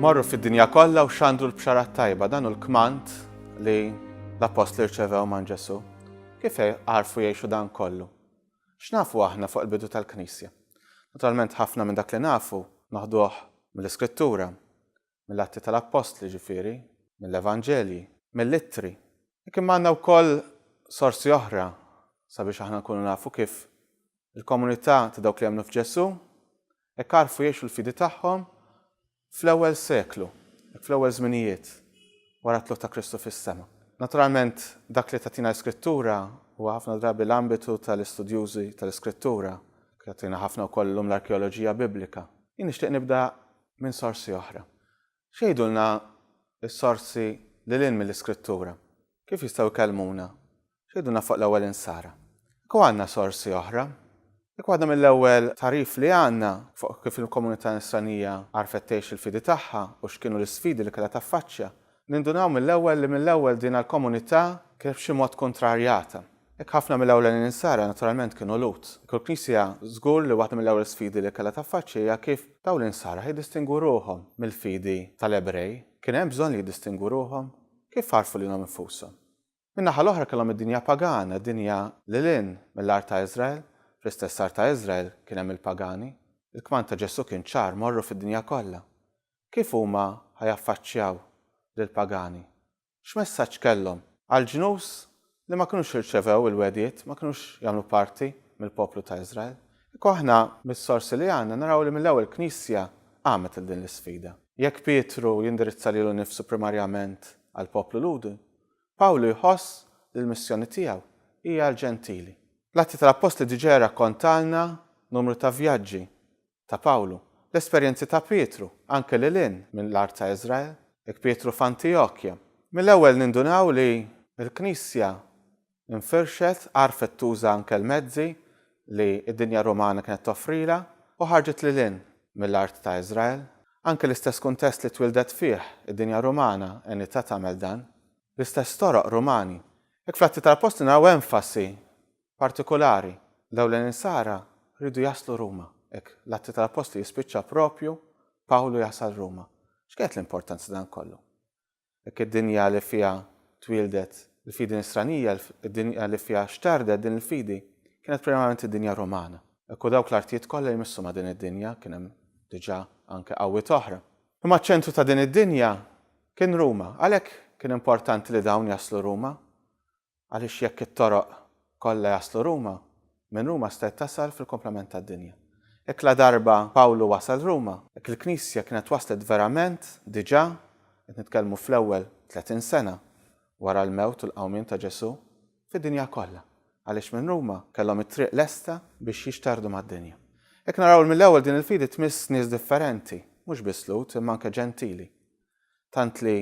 Morru fid-dinja kollha u xandru l-bxara t-tajba, dan hu l-kmand li l-appostli rċevew man Ġesù. Kif għarfu jgħixu dan kollu? X'nafu aħna fuq il-bidu tal-Knisja? Naturalment ħafna minn dak li nafu noħduh mill-Iskrittura. mill-Atti tal-Appostli, ġifieri, mill-Evanġelji, mill-Ittri. Hekk imma għandna wkoll sorsi oħra sabiex aħna nkunu nafu kif il-komunità ta' dawk li emmnu f'Ġesù hekk għarfu jgħixu l-fidi tagħhom fl-ewwel seklu, hekk fl-ewwel żminijiet wara t-tlugħ ta' Kristu fis-sema. Naturalment, dak li tagħtina l-Iskrittura huwa ħafna drabi l-ambitu tal-istudjużi tal-Iskrittura, kif tagħtina ħafna wkoll illum l-arkeoloġija Biblika. Jien nixtieq nibda minn sorsi oħra. X'jgħidulna s-sorsi lil hinn mill-Iskrittura? Kif jistgħu jkellmuna? X'jgħidulna fuq l-ewwel insara? Jekk hu għandna sorsi oħra, jekk waħda mill-ewwel tagħrif li għandna fuq kif il-komunità Nisranija għarfet tgħix il-fidi tagħha u x'kienu l-isfidi li kellha taffaċċja Nindunaw mill-ewwel li mill-ewwel dina l-komunità kienet b'xi mod kuntrarjata. Hekk ħafna mill-ewlenin Insara naturalment kienu Lhud. Hekk il-Knisja żgur li waħda mill-ewwel sfidi li kellha taffaċċja hija kif dawn l-Insara ħa jiddistingwu ruħhom mill-fidi tal-Ebrej. Kien hemm bżonn li jiddistingwu ruħhom? Kif għarfu lilhom infushom? Min-naħa l-oħra kellhom id-dinja pagana, dinja lil hinn mill-art ta' Iżrael. Fl-istess art ta' Iżrael kien hemm il-pagani. Il-kmand ta' Ġesù kien ċar, morru fid-dinja kollha. Kif huma ħa jaffaċċjaw lill-pagani? X'messaġġ kellhom? Għall-ġnus li ma kinux irċevew il-wegħdiet, ma kinux jagħmlu parti mill-poplu ta' Iżrael. Kieku aħna, mis-sorsi li għandna, naraw li mill-ewwel Knisja qamet lil din l-isfida. Jekk Pietru jindirizza lilu nnifsu primarjament għall-poplu Lhudi, Pawlu jħoss li l-missjoni tiegħu hija għall-Ġentili. L-Atti tal-Appostli diġà jirrakkontalna numru ta' vjaġġi ta' Pawlu. L-esperjenzi ta' Pietru, anke lil hinn mill-art ta' Iżrael, hekk Pietru f'Antijokja. Mill-ewwel nindunaw li l-Knisja nfirxet, għarfet tuża anke l-mezzi li d-dinja Rumana kienet toffrilha u ħarġet lil hinn mill-art ta' Iżrael. Anke l-istess kuntest li twieldet fih id-dinja Rumana għenitha tagħmel dan. L-istess toroq Rumani. Hekk fl-Atti tal-Appostli naraw enfasi partikulari, dawn l-insara riedu jaslu Ruma. Hekk, l-Atti tal-Appostli jispiċċa proprju Pawlu jasal Ruma. X'kienet l-importanza ta' dan kollu? Dik id-dinja li fiha twieldet il-fidi nisranija, id-dinja li fiha xtardet din il-fidi, kienet primarjament id-dinja Rumana. Hekk u dawk l-artijiet kollha jmissu ma' din id-dinja, kien hemm diġà anke qawwiet oħra. Imma ċ-ċentru ta' din id-dinja kien Ruma. Għalhekk kien importanti li dawn jaslu Ruma. Għaliex jekk it-toroq kollha jaslu Ruma, minn Ruma stajt tasal fil-kumplament tad-dinja. Hekk ladarba Pawlu wasal Ruma, hekk il-Knisja kienet waslet verament diġà, qed nitkellmu fl-ewwel tletin sena wara l-mewt u l-qawmien ta' Ġesù, fid-dinja kollha, għaliex minn Ruma kellhom it-triq lesta biex jixterdu mad-dinja. Hekk naraw li mill-ewwel din il-fidi tmiss nies differenti, mhux biss Lhud imma anke Ġentili. tant li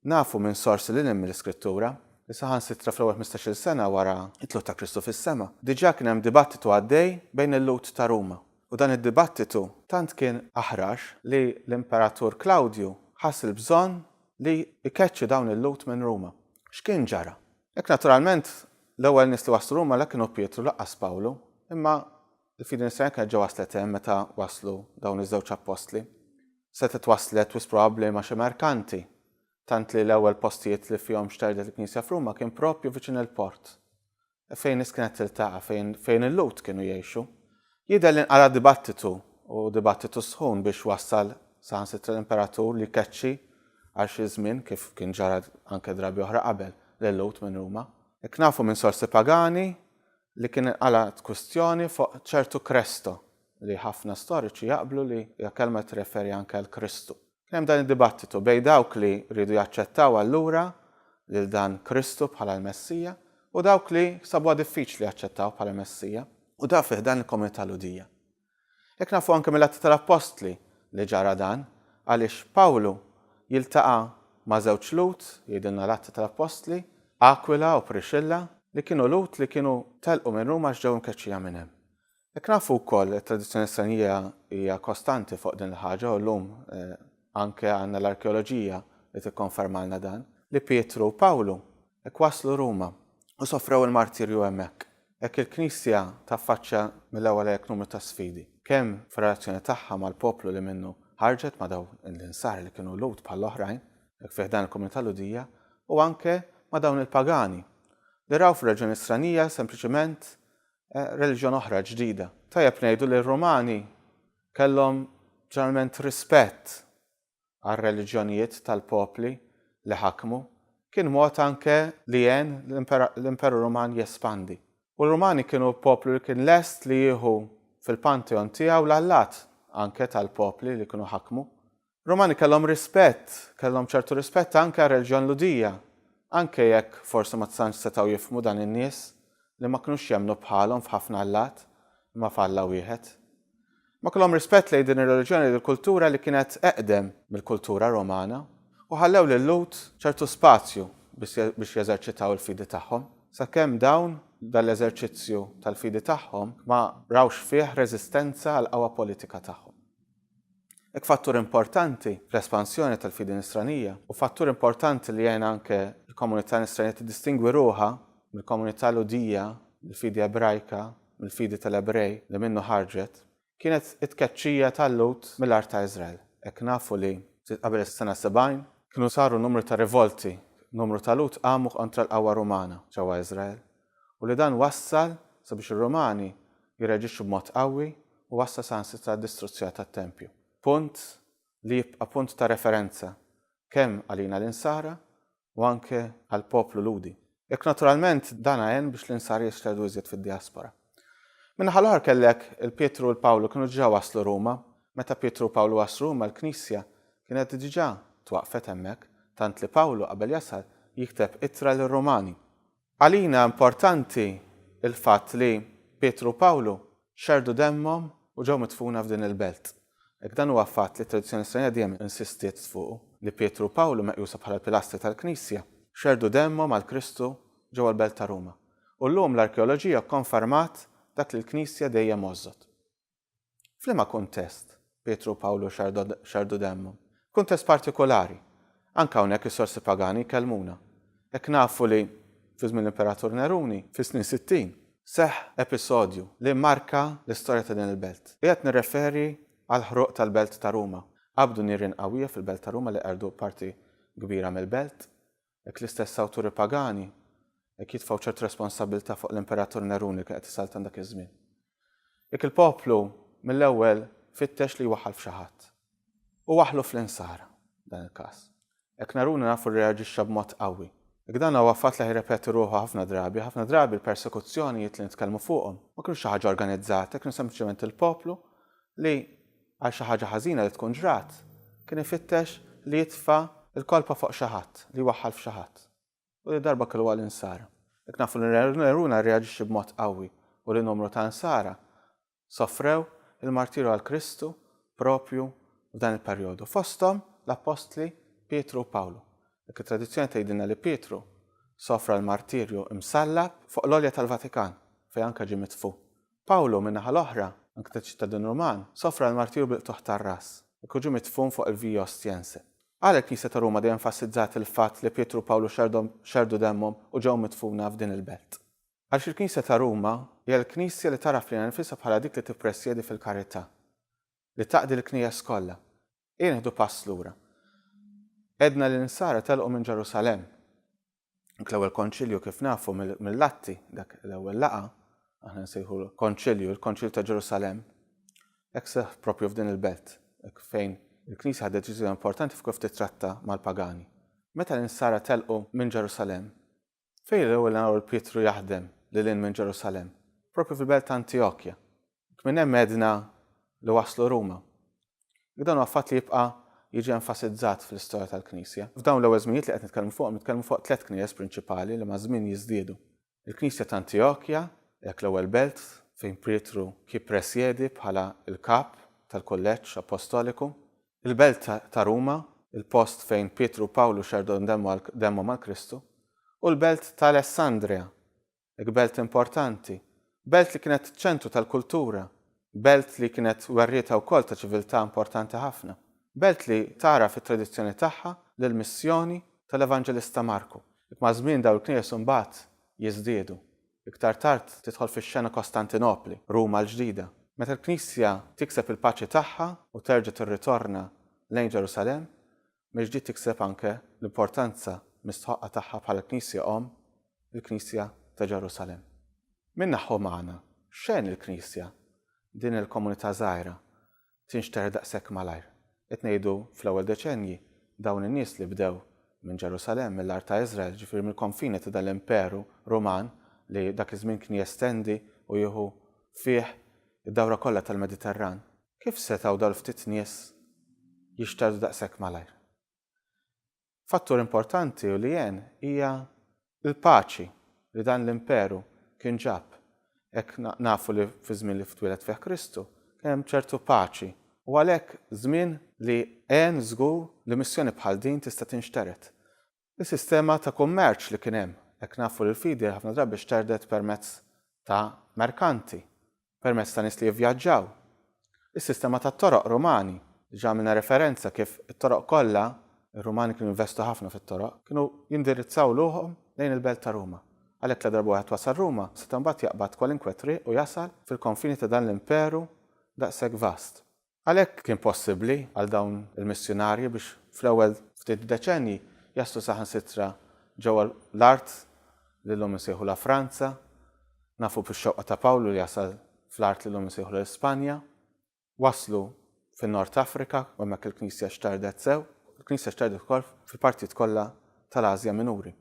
nafu minn sorsi lil hinn mill-Iskrittura li saħansitra fl-ewwel ħmistax-il sena wara t-tluq ta' Kristu fis-sema, diġà kien hemm dibattitu għaddej bejn il-Lhud ta' Ruma, u dan id-dibattitu tant kien aħrax li l-Imperatur Klawdju ħass il-bżonn li jkeċċi dawn il-Lhud minn Ruma. X'kien ġara? Hekk naturalment l-ewwel nies li waslu Ruma la kienu Pietru lanqas Pawlu, imma Il-fidi Nisranija kienet ġa waslet hemm meta waslu dawn iż-żewġ appostli. Setgħet waslet wisq probabbli ma' xi merkanti, tant li l-ewwel postijiet li fihom xterdet il-Knisja f'Ruma kien proprju viċin il-port, fejn nies kienet tiltaqa', fejn fejn il-Lhud kienu jgħixu. Jidher li nqara' dibattitu, u dibattitu sħun biex wassal saħansitra l-imperatur li jkeċċi għal xi żmien, kif kien ġara anke drabi oħra qabel, lil-Lhud minn Ruma. Hekk nafu minn sorsi pagani, li kien inqalgħet kwistjoni fuq ċertu Kresto, li ħafna storiċi jaqblu li hija kelma li tirreferi anke għal Kristu. Kien hemm dan id-dibattitu bejn dawk li riedu jaċċettaw allura lil dan Kristu bħala l-Messija u dawk li sabuha diffiċli jaċċettawh bħala Messija, u dan fi ħdan il-komunità Lhudija. Hekk nafu anke mill-Atti tal-Appostli li ġara dan, għaliex Pawlu jiltaqa' ma' żewġ Lhud, jgħidilna l-Atti tal-Appostli, Akwila u Prixilla, li kienu Lhud li kienu telqu minn Ruma għax ġew imkeċċija minn hemm. Hekk nafu wkoll, it-tradizzjoni Nisranija hija kostanti fuq din il-ħaġa u llum anke għandna l-arkeoloġija li tikkonfermalna dan, li Pietru u Pawlu Hekk waslu Ruma u sofrew il-martirju hemmhekk. Hekk il-Knisja taffaċċja mill-ewwel hekk numru ta' sfidi, kemm fir-relazzjoni tagħha mal-poplu li minnu ħarġet ma' dawn l-insara li kienu Lhud bħall-oħrajn, hekk fi ħdan il-komunità Lhudija, u anke ma' dawn il-pagani li raw fir-reġjuni stranija sempliċement reliġjon oħra ġdida. Tajjeb ngħidu li r-Rumani kellhom ġeneralment rispett għar-reliġjonijiet tal-popli li ħakmu, kien mod anke li għen l-Imperu Ruman jespandi. U r-Rumani kienu poplu li kien lest li jieħu fil-pantheon tiegħu l-allat anke tal-popli li kienu ħakmu. Rumani kellhom rispett, kellhom ċertu rispett anke għar-reliġjon Ludija, anke jekk forsi ma tantx setgħu jifhmu dan in-nies li ma kinux jemmnu bħalhom f'ħafna allat imma f'Alla wieħed. Ma kellhom rispett lejn din ir-reliġjoni u l-kultura li kienet eqdem mill-kultura Romana u ħallew lil-Lhud ċertu spazju biex jeżerċitaw il-fidi tagħhom, sakemm dawn, b'dan l-eżerċizzju tal-fidi tagħhom, ma rawx fih reżistenza għall-qawwa politika tagħhom. Hekk fattur importanti fl-espansjoni tal-fidi Nisranija u fattur importanti li għen anke l-komunità Nisranija tiddistingwi ruħha mill-komunità Lhudija, mill-fidi Ebrajka mill-fidi tal-Ebrej li minnu ħarġet, kienet it-tkeċċija tal-Lhud mill-art ta' Iżrael. Hekk nafu li ftit qabel is-sena 70, kienu saru numru ta' rivolti, numru ta' Lhud qamu kontra l-qawwa Rumana ġewwa Iżrael, u li dan wassal sabiex ir-Rumani jirreaġixxu b'mod qawwi u wassal saħansitra għad-distruzzjoni tat-tempju. Punt li jibqa' punt ta' referenza kemm għalina l-Insara u anke għall-poplu Lhudi. Hekk naturalment dan għen biex l-Insar jixxerdu iżjed fid-dijaspora. Min-naħa l-oħra kellek il-Pietru u l-Pawlu kienu diġà waslu Ruma. Meta Pietru u Pawlu waslu Ruma l-Knisja kienet diġà twaqqfet hemmhekk, tant li Pawlu qabel jasal jikteb ittra lir-Rumani. Għalina importanti l-fatt li Pietru u Pawlu xerrdu demmhom u ġew midfuna f'din il-belt. Hekk dan huwa fatt li t-tradizzjoni Nisranija dejjem insistiet fuqu, li Pietru u Pawlu, meqjusa bħala l-pilastri tal-Knisja, xerrdu demmhom għal Kristu ġewwa l-belt ta' Ruma. U llum l-arkeoloġija kkonfermat dak li l-Knisja dejjem għożżot. F'liema kuntest Pietru u Pawlu xerrdu demmhom? Kuntest partikulari. Anke hawnhekk is-sorsi pagani jkellmuna. Hekk nafu li, fi żmien l-Imperatur Neruni, fis-snin 60, seħħ episodju li mmarka l-istorja ta' din il-belt. Qiegħed nirreferi għall-ħruq tal-belt ta' Ruma. Qabdu nirien qawwija fil-belt ta' Ruma li qerdu parti kbira mill-belt. Hekk l-istess awturi pagani hekk jitfgħu ċertu responsabbiltà fuq l-Imperatur Nerun li kien qed isaltan dak iż-żmien. Jekk il-poplu mill-ewwel fittex li jwaħħal f'xi ħadd. Hu waħħlu fl-insara, f'dan il-każ. Hekk Nerun nafu rreaġixxa b'mod qawwi. Jekk dan huwa fatt li jirrepeti ruħu ħafna drabi, ħafna drabi l-persekuzzjonijiet li nitkellmu fuqhom ma kinux xi ħaġa organizzata, kienu sempliċement il-poplu li għal xi ħaġa ħażina li tkun ġrat, kien ifittex li jitfa' l-kolpa fuq xi ħadd, li jwaħħal f'xi ħadd. U li darba kellu għal insara. Jekk nafu li Neruna rreaġixxa b'mod qawwi u li numru ta' insara sofrew il-martirju għal Kristu proprju f'dan il-perjodu, fosthom l-appostli Pietru u Pawlu. Jekk it-tradizzjoni tgħidilna li Pietru sofra l-martirju msallab fuq l-għolja tal-Vatikan, fejn anke ġie mitfugħ, Pawlu, min-naħa l-oħra, anke ta' ċittadin Ruman, sofra l-martirju bil-qtugħ tar-ras, jekk hu ġie midfun fuq il-Via Ostiense. Għala l-Knisja ta' Ruma dejjem fassizzat il-fatt li Pietru u Pawlu xerdhom, xerrdu demmhom u ġew midfuna f'din il-belt? Għaliex il-Knisja ta' Ruma hija l-Knisja li tagħraf lilha nnifisha bħala dik li tippresjedi fil-karità, li taqdi l-Knejjes kollha, Ejja nieħdu pass lura. Għedna li n-Nsara telqu minn Ġerusalemm. Dak l-ewwel Konċilju kif nafu mill-Atti, dak l-ewwel laqgħa, aħna nsejħulu Konċilju, il-Konċilju ta' Ġerusalemm, hekk seħħ proprju f'din il-belt, hekk fejn il-Knisja ħadet deċiżjoni importanti f'kif tittratta mal-pagani. Meta l-Nsara telqu minn Ġerusalemm, Fejn l-ewwel naraw lil Pietru jaħdem lil hinn minn Ġerusalemm? Proprju fil-belt ta' Antjokja. Jekk minn hemm għedna li waslu Ruma. Jekk dan huwa fatt li jibqa' jiġi enfasizzat fl-istorja tal-Knisja. F'dawn l-ewwel żminijiet li qed nitkellmu fuqhom nitkellmu fuq tliet knijes prinċipali li maż-żmien jiżdiedu. Il-Knisja ta' Antjokja, dak l-ewwel belt fejn Pietru jippresjedi bħala l-kap tal-kulleġġ appostoliku, il-belt ta' Ruma, il-post fejn Pietru u Pawlu xerrdhom demmhom għal Kristu, u l-belt ta' Alessandria, dik belt importanti, belt li kienet ċ-ċentru tal-kultura, belt li kienet werrietha wkoll ta' ċiviltà importanti ħafna, belt li tagħraf it-tradizzjoni tagħha lill-missjoni tal-Evanġelista Marku. Dak maż-żmien dawn il-knejjes imbagħad jiżdiedu. Iktar tard tidħol fix-xena Kostantinopli, Ruma l-Ġdida. Meta l-Knisja tikseb il-paċi tagħha u terġa' tirritorna lejn Ġerusalemm, mill-ġdid tikseb anke l-importanza mistħoqqa tagħha bħala l-Knisja Omm, il-Knisja ta' Ġerusalemm. Min-naħa umana, x'għen lill-Knisja, din il-komunità żgħira, tinxtehr daqshekk malajr. Qed ngħidu fl-ewwel deċennji, dawn in-nies li bdew minn Ġerusalemm, mill-art ta' Iżrael, jiġifieri mill-konfini ta' dan l-imperu Ruman li dak iż-żmien kien jestendi u jieħu fih id-dawra kollha tal-Mediterran, kif setgħu dawn il-ftit nies jixterdu daqshekk malajr? Fattur importanti u li għen hija l-paċi li dan l-imperu kien ġab. Hekk nafu li fiż-żmien li twieled fih Kristu kien hemm ċertu paċi u għalhekk żmien li għen żgur li missjoni bħal din tista' tinxtered. Is-sistema ta' kummerċ li kien hemm, hekk nafu li l-fidi ħafna drabi xterdet permezz ta' merkanti permezz ta' nies li jivvjaġġaw. Is-sistema tat-toroq Rumani, diġà għamilna referenza kif it-toroq kollha, ir-Rumani kienu jinvestu ħafna fit-toroq, kienu jindirizzaw luħhom lejn il-belt ta' Ruma. Għalhekk la darba wieħed wasal Ruma, seta' mbagħad jaqbad kwalinkwe triq u jasal fil-konfini ta' dan l-imperu daqshekk vast. Għalhekk kien possibbli għal dawn il-missjunarji biex fl-ewwel ftit deċennji jaslu saħansitra ġewwa l-art li llum insejħulha Franza. Nafu bix-xewqa ta' Pawlu li jasal fl-art li llum insejħulha l-Ispanja. Waslu fin-Nord Afrika u hemmhekk il-Knisja xtardet sew. Il-Knisja xtardet ukoll fil-partijiet kollha tal-Asja Minuri.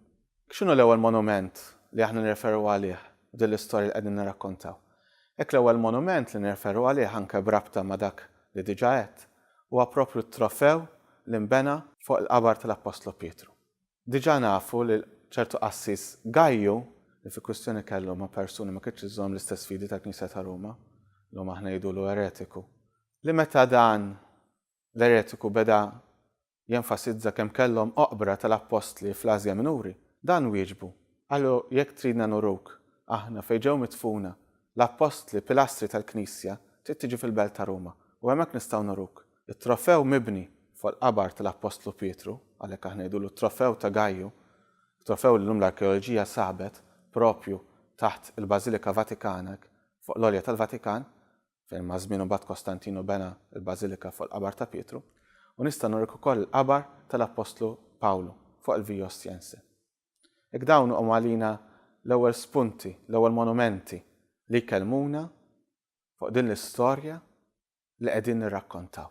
X'inhu l-ewwel monument li aħna nirreferu għalih f'din l-istorja li qegħdin nirrakkontaw? Hekk l-ewwel monument li nirreferu għalih anke b'rabta ma' dak li diġà għedt huwa proprju t-trofew li nbena fuq il-qabar tal-Appostlu Pietru. Diġà nafu li ċertu qassis Gajju, li fi kwistjoni kellu ma' persuni ma kinitx iżżomm l-istess fidi tal-Knisja ta' Ruma, llum aħna ngħidulu eretiku, li meta dan l-eretiku beda jenfasizza kemm kellhom oqbra tal-appostli fl-Asja Minuri, dan wieġbu, qalu jekk tridna nuruk, aħna, fejn ġew midfuna, l-appostli, pilastri tal-Knisja, trid tiġi fil-belt ta' Ruma, u hemmhekk nistgħu nuruk. It-trofew mibni fuq il-qabar tal-appostlu Pietru, għalhekk aħna ngħidulu t-trofew ta' Gaju, trofew li llum l-arkeoloġija sabet propju taħt il-Bażilika Vatikana hekk fuq l-għolja tal-Vatikan, fejn maż-żmien imbagħad Kostantinu bena l-bażilika fuq il-qabar ta' Pietru, u nista' nurek ukoll il-qabar tal-appostlu Pawlu fuq il-Via Ostiense. Hekk dawn huma għalina l-ewwel spunti, l-ewwel monumenti li jkellmuna fuq din l-istorja li qegħdin nirrakkontaw.